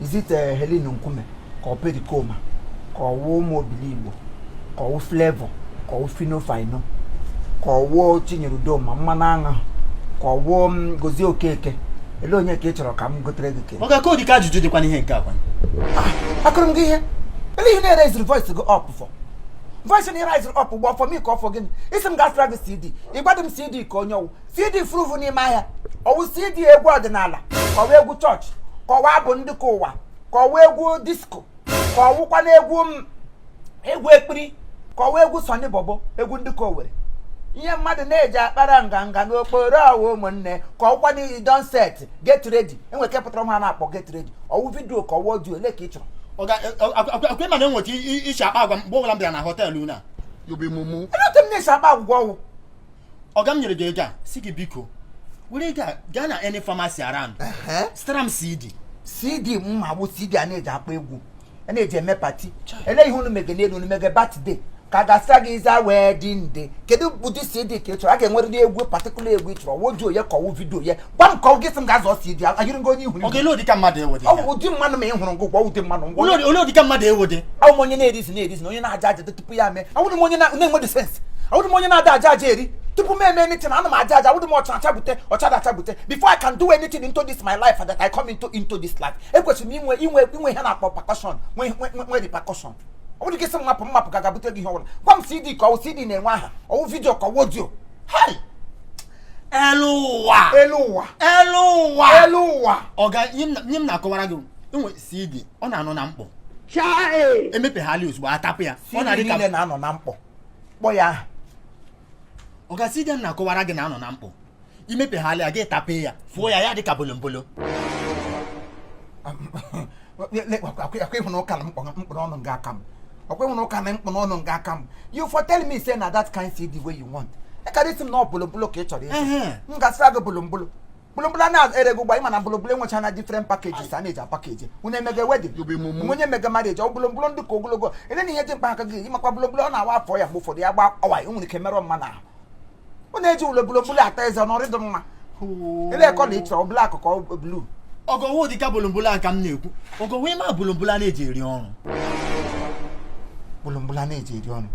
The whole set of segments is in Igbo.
Is it uh, Helen Nkume ka ọ Pericoma ka ọ wụ Umu Obiligbo ka ọ wụ Flavour ka ọ wụ Phyno Fino ka ọ wụ Chinyere Udoma mmanụ aṅụ ka ọ wụ mm, Gozie Okeke ele onye ka ị chọrọ ka m gotere gị ke ọga ka ọ dịka ajụjụ dịkwa n'ihe nke a kwa ah, akụrụ m gị ihe ele ihe ị na-eraisiri voice gị up for voice na-eraisiri up gbọ for me ka ọ for gịnị ị sị m gaa zụtara gị CD ị gwadị m CD ke onye ọ wụ CD furufu n'ime ahịa ọ wụ CD egwu ọdịnala ka ọ wụ egwu church ka ọ wụ abụ ndị ke ụwa ka ọ wụ egwu disco ka ọ wụkwa na egwu ekpiri ka ọ wụ egwu Sunny Bobo egwu ndị ke Owere ihe mmadụ na-eji akpara nganga n'okporo ọ wụ ụmụnne ka ọ wụkwa na e don set get ready e nwere ke pụtara a na-akpọ get ready ọ wụ video ka ọ wụ audio ole ke ị chọrọ ọkwa ị ma na e nwere otu e shi akpa agwa mgbe ọbụla m bịara na hotel na you be mumu Olee otu m na-esi akpa agwa ọga ọ wụ ọga m nyere gị ego a sị gị biko were ego a gaa na any pharmacy around Ehe. zụtara m cd cd m ma bụ cd a na-eji akpa egwu a na-eji eme party ele ihe unu mege n'elu unu mege birthday ka a gaa zụtara gị is a wedding day kedu ụdị cd ka ị chọrọ a ga-enwerịrị egwu particular egwu ị chọrọ audio ya ka ọ wụ video ya gwa m ka ọ wụ gị sị m gaa zụọ cd a ayịrị gị onye ihu ọga ele ụdị ka mmadụ ị wụdị ọ bụ ụdị mmadụ ma ị hụrụ ngụ gwa ụdị mmadụ ngwa ole ụdị ka mmadụ ị wụdị awụ m onye na-ereason ereason onye na-ajụ ajụ tupu ya mee awụdị m onye na-enweghị sense awụdị m onye na-ada ajụ ajụ eri tupu m eme anything ana m ajụ ajụ awụdị m ọ cha acha bute ọ chadị acha bute before I can do anything into this my life that I come into into this life ekwesịrị m inwe inwe inwe ihe a na-akpọ percussion nwe nwe nwe repercussion ọ wụdị gị sị m mapụ m mapụ ga gaa bute gị ihe ọbụla gwa m cd ke ọ wụ cd na-enwe aha ọ wụ video ka ọ wụ audio hai elu ụwa elu ụwa elu ụwa elu ụwa ọga ihe m na- ihe m na-akọwara gị e nwe cd ọ na-anọ na mkpọ e mepeghala ozugbo a tapụ ya ọ na-adị ka na-anọ na mkpọ kpọ ya aha ọga cd m na-akọwara gị na-anọ na mkpọ i mepeghala ya gị tapee ya fụọ ya ya dị ka bolombolo ọkwa ị hụna ụka na mkpụrụ ọnụ nga aka m ọkwa ị hụna ụka na mkpụrụ ọnụ nga aka m you for tell me say na that kind cd wey you want ị kara sị m na ọ bolombolo ka ị chọrọ ịzụ m gaa zụtara gị bolombolo bolombolo na-ere gị ụgba ị ma na bolombolo nwecha na different packages a na-eji apackage unu emege wedding onye mege marriage ọ bolombolo ndị ke ogologo ele na ihe dị mkpa aka gị ị makwa bolombolo ọ na-awa afọ ya mgbe ụfọdụ ya gbawaa o nwere ike merụọ mmadụ ahụ ọ na-eji ụlọ bolombolo ata eze n'ọ dịdị mma ele colour ị chọrọ ọ black ka ọ blue ọga ọ wụdịkwa bolombolo a ka m na-ekwu ọga ọ wụ ị ma bolombolo a na-eji eri ọrụ bolombolo a na-eji eri ọrụ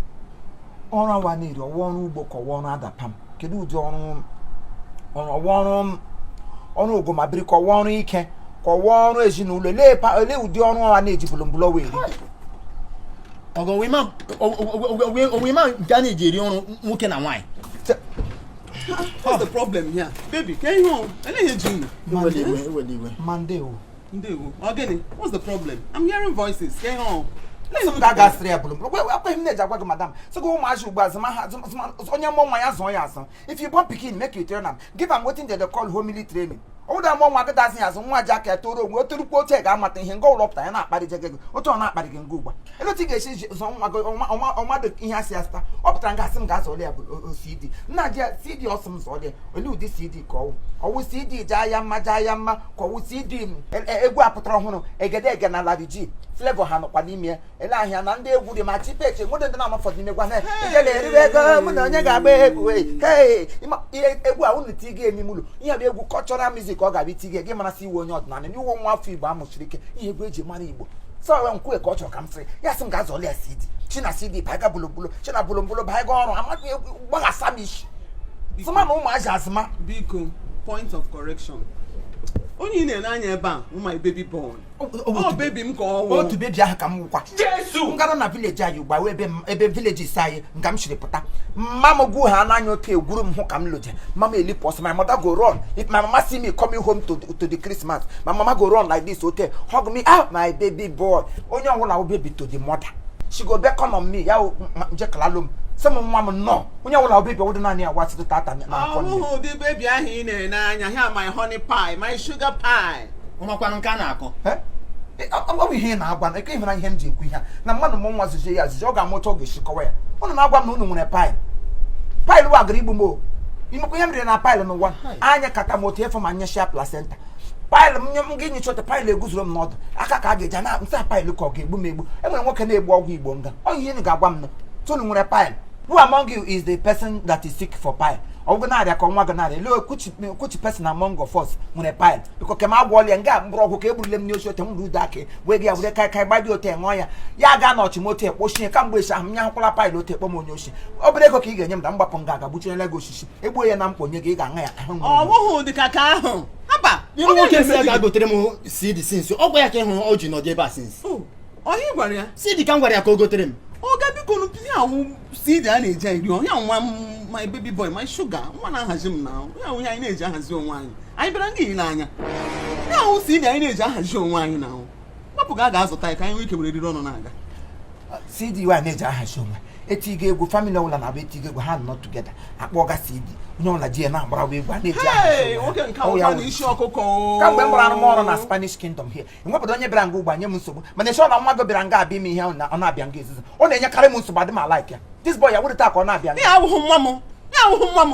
ọrụ ahụ a na-eri ọ wụ ọrụ ugbo ka ọ wụ ọrụ Adapalm kedu ụdị ọrụ ọ wụ ọrụ ọrụ ogumabiri ka ọ wụ ọrụ ike ka ọ wụ ọrụ ezinụlọ olee ụdị ọrụ ọ wụ a na-eji bolombolo wee eri ọga ọ wụ ị ma nke a na-eji eri ọrụ nwoke na nwaanyị What's the problem here? Baby, can you? I know you're doing. Monday, Monday. ndewo ọ gịnị what's the problem i'm hearing voices ka ihe ọhụ sọpụta ga asịrị ya bụrụ akweghị m na-eji agwa gị madam sị gị ụmụazị ugbu a zụma ha onye mụọ nwa ya zụọ ya azụ if you born pikin make you train am give am wetin dem dey call homely training ọwụda mụọ nwa kịta azụ ya azụ nwa ji aka ya toro onwe otorukwu oche ga-amata ihe nga ụlọpụta ya na-akparịje gị otu ọ na-akparị gị nga ugbu a ele otu ị ga-esi zụọ nwa gị ọmadụ ihe asị asịta ọ pụtara nga asị m ga-azụọlị ya bụ cd m na-ajụ ya cd ọ sị m zụọlị ya olee ụdị cd ọ wụ cd jaa ya mma jaa ya mma ka ọ wụ cd e, e, egwu apụtara ọhụrụ egedege na larry g flavour ha nọkwa n'ime ele ahịa na ndị egwu dị ma chipeche nwede ndị na-ama ụfọdụ n'ime egwu ahụ ijele eriwe ego mụ na onye ga-agba egwu ihe egwu a unu tige emi mụlụ ihe bụ egwu cultural music ọ ga-abịa itige gị mara sị ị wụ onye ọdịnala na ị wụ nwa afọ igbo amụshiri ike ihe egwu eji mara igbo sọ wee nkwue ka ọ chọrọ ka m sịrị ya sị m ga-azụọlị ya cd china cd baiga bolombolo china bolombolo baiga ọrụ amaghị gbaghasa m isi sịma na ụmụazị azụma biko point of correction onye ị na-ele anya ebe a my baby boy ọ baby m ka ọ wụ otu baby ahụ ka m wụkwa jesu m gara na village anyị gbawa ebe village anyị nga m siri pụta mama m gwu ha n'anya ote egwuru m hụ ka m lọje mama elipụ ọsọ my mother go run if my mama see me coming home to, to the christmas my mama go run like this ote hug me ah my baby boy onye ọwụla wụ baby to the mother she go beckon on me ya njekalalo m sị m nwa m nnọọ onye ọwụla wụ baby ọ wụdị naanị ya wasịtụ tata n'aka nne ọ wụhụ ụdị baby ahụ ị na-ene anya here my honey pie my sugar pie ọ makwanụ nke a na-akọ Eh? Eh, ọ ọ bụ ihe ị na-agwa na eke ị hụla ihe m ji ekwu ihe a na mmadụ mụọ nwa zụzie ya azụzi ọ ga-amụta ọ ga-esi kọwa ya ụnụ na-agwa m na unu nwere pile pile wa gara igbu m o ị makwa ihe m riri na pile n'ụwa anyụkata m ote fọ m anyụsịa placenta pile m nye m gị nyụchata pile eguzoro m n'ọdụ aka ka a ga-eji na-asa pile ka ọ ga-egbu m egbu enwere nwoke na-egbu ọgwụ igbo nga ọ ihe unu ga-agwa m na sị unu nwere pile who among you is the person that is sick for pile ọ wụ gị na-arịa ka nwa gị na-arịa lee kuchi kuchi person among of us nwere pile biko ke m agwọlịa nga mgbọrọgwụ ka egburule m n'osisi ote m rude aka wee gị ya were kai kai gbadi ote ṅụọ ya ya ga na ọchị m ote kpochie kamgbe echi ahụ m nya hụkwala pile ote kpọ m onye oshi obere ego ka ị ga-enye m na m gbapụ nga ga gbuchinyela gị osisi egbuo ya na m kponye gị ị ga-aṅụ ya ahụ ọ bụghị ụdị ka ka ahụ haba Iru nwoke sị ya gaa gotere m CD since ọ gwa ya ka ị hụrụ o ji nọdụ ebe a since ọ ihe a gwara ya CD ka m gwara ya ka o gotere m oga bikonu ihe a wụ CD a na-eji eri ihe nwa m my baby boy my sugar nwa na-ahazi m na ya wụ ihe anyị na-eji ahazi onwe anyị anyị bịara nga ile anya ihe a wụ CD anyị na-eji ahazi onwe anyị na ahụ Gbapụ ga ga-azụta ya ka anyị nwee ike were eriri ọnụ na-aga. CD wa na-eji ahazi onwe e tige egwu family ọbụla na-abụ e tige egwu ha nọ together akpọga CD onye ọbụla ji ya na-agbarawa egwu a na-eji ahazi onwe kamgbe m gbara arụmọrụ na Spanish Kingdom here enwebedị onye bịara nga ugbo nye m nsogbu mana esi ọ na nwa gị bịara nga abịa ime ihe ọ na-abịa nga izizi ọ na-enyekarị m nsogbu adị m a-like ya this boy ya wụrụ otu a ka ọ na-abịa ya awụhụ nwa m ya awụhụ nwa m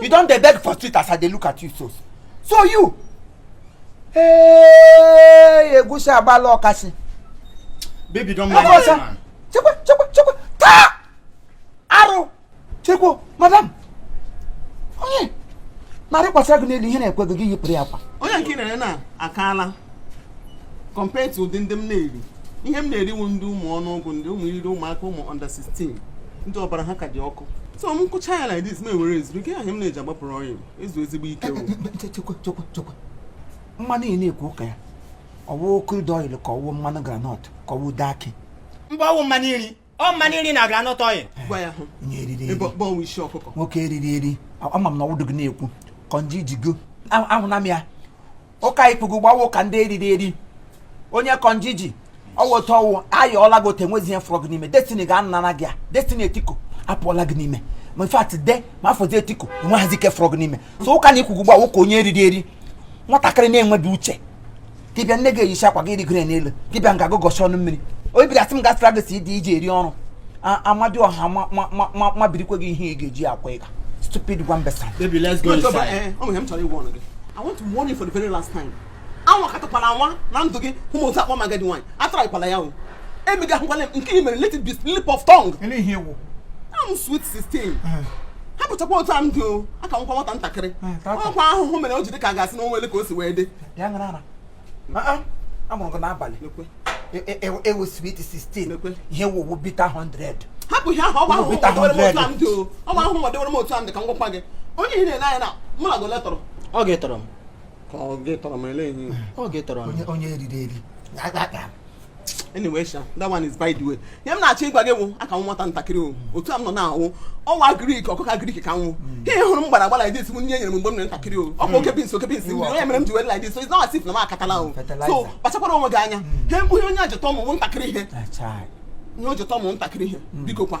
you don dey beg for street as i dey look at you so so you hey egusi agbala ọkasị. baby don't mind that man. chekwa chekwa chekwa taa arụ chekwa madam onye na-arịkwasịra gị n'elu ihe na-ekwe gị gị yipụrụ ya akwa. onye nke na-ere na akaala compared to ụdị ndị m na-eri ihe m na-eri wụ ndị ụmụ ọnụọgụ ndị ụmụ iriri ụmụaka ụmụ under 16 ndị ọbara ha ka dị ọkụ so m kụcha ya like this m ewere ezuru ike ahụ m na-eji agbapụrụ ọyị ezu ezigbo ike eh, eh, eh, mmanụ ị na-ekwu ụka ya ọwụ crude oil ka ọwụ mmanụ groundnut ka ọwụ ude akị mba ọwụ mmanụ iri ọ mmanụ iri na groundnut oil nwoke eriri eri ama m na ọwụdụ gị na-ekwu kọnji jigo ahụna m ya ụka i kwuga ugbu a wụ ụka ndị eriri eri onye kọnji ji ọwụta ọwụ ayọọla gị ote nwezi ihe fọrọ gị n'ime destiny gị anara gị ya destiny etiko apụọla gị n'ime ma in fact de ma afọzi etiko enweghịzi ike fọrọ gị n'ime so ụka na i kwuga ugbu a wụ ụka onye eriri eri nwatakịrị na-enweghị uche dibịa nne gị eyicha akwa gị rịgoro n'elu dibịa nga gụgọchi ọnụ mmiri obi bịara sị m gasịra gị si dị iji eri ọrụ amadịọha mabirikwe gị ihe ị ga-eji akwa ịga stupid gwambesa I want to warn you for the very last time. anwakatakwala anwa na ndụ gị ị hụ m ọzọ kpọọ m agadi nwaanyị atrykwala ya o emega ahụkwala m nke i mere let it be slip of tongue ele ihe wụ I'm sweet 16 hapụchakwa otu a m dị o aka m wụkwa nwata ntakịrị Eh, tata. ọkwa ahụhụ mere o ji dị ka a ga-asị na onwe ele ka o si wee dị bịa ṅara ara amụrụ gị n'abalị ewu sweet 16 ihe ị wụ wụ bitter 100 hapụ ihe ahụ ọgba ahụhụ m dewere m otu a m dị ka m gwakwa gị onye ị na-ele anya na mụ na gole tọrọ ọ gị tọrọ m ka ọ gị tọrọ m ele ihe ọ gị tọrọ m onye eriri eri anyway sha that one is by the way ihe m na-achọ ịgwa gị wụ aka m wụ nwata ntakịrị o otu a m nọ na m wụ nwa agric ọkụkọ agric ka m wụ hmm. ihe ị hụrụ m gbara agbara like this nri e nyere m mgbe m nọ ntakịrị o ọ bụ oke beans oke beans mmiri onye mere m ji were like this so it's not as if na m akatala o so kpachakwara onwe gị anya ihe onye ajụta ụmụ ntakịrị ihe ihe o jụta ụmụ ntakịrị ihe biko kwa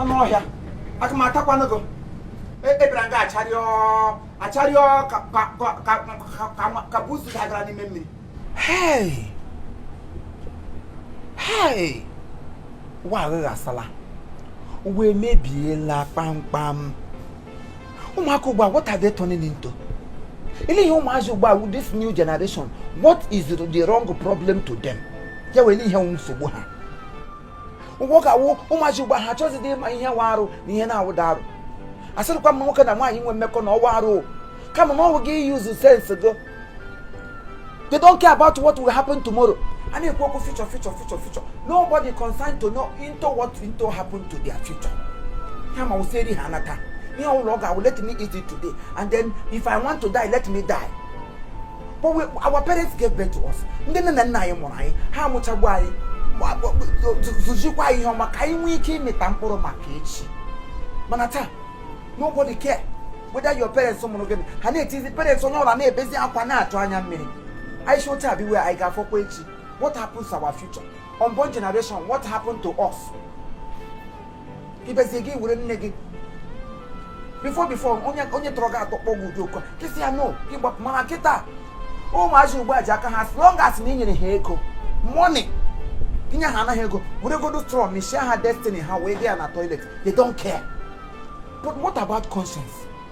anụ ọhịa aka m atakwanụ gị ị bịara nga acharịọ acharịọ ka buusu dabara n'ime mmiri ụwa agbasaala ụwa emebiela kpamkpam ụmụaka ugbu a what are they turning into lee ihe ụmụazị ugbu a this new generation what is the wrong problem to them elee ihe nsogbu ha ụgwọ ka wụ ụmụazị ugbu a ha achọzidị ịma ihe wụ arụ na ihe na-awụdị arụ asịghịkwa m nwoke na nwaanyị nwee mmekọ na ọ wụ arụ kama na ọ wụ gị use sense go they don't care about what will happen tomorrow a na-ekwu okwu future future future future nobody concerned to know into what into happen to their future ha ma wụ sị ha nata ihe ọbụla ọ ga-awụ let me eat it today and then if i want to die let me die but we, our parents gave birth to us ndị nne na nna anyị mụrụ anyị ha amụchagbu anyị zụzikwa anyị ihe ọma ka anyị nwee ike ịmịta mkpụrụ maka echi mana taa nobody care whether your parents mụrụ gịnị ha na-etizi parents onye ọwụla na-ebezi akwa na-achụ anya mmiri anyị si otu a biwe anyị ga-afọkwa echi what happens to our future unborn generation what happened to us ibezie gị were nne gị before before onye onye tọrọ gị atọ kpọọ gị ụdị oku gị sị ya no gị gbapụ mana kịta ụmụazị ugbu a ji aka ha as long as na inyere ha ego money inye ha anaghị ego were godu straw mịchaa ha destiny ha wee dị ya na toilet they don't care but what about conscience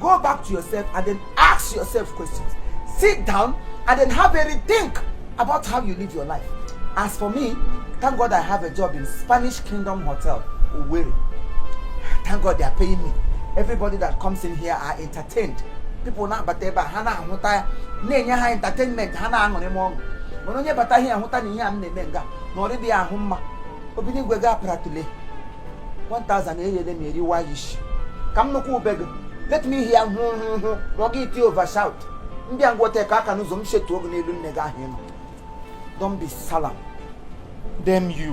Go back to yourself and then ask yourself questions. Sit down and then have a rethink about how you live your life. As for me, thank God I have a job in Spanish Kingdom Hotel, Owerri. Thank God they are paying me. Everybody that comes in here are entertained. People na-abata ebe a ha na-ahụta ya na-enye ha entertainment ha na-aṅụrị m ọṅụ mana onye bata here hụta na ihe a m na-eme nga na ọ dịghị ahụ mma obi n'igwe ga-apụratụle 1000 e nyere m eriwa ya isi ka m nụkwa ube gị let me hear hụ hụ hụ ma ọ gị iti over shout ndị a ngwọta ka aka n'ụzọ m chetuo gị n'elu nne gị ahụ ịnọ don't be salam damn you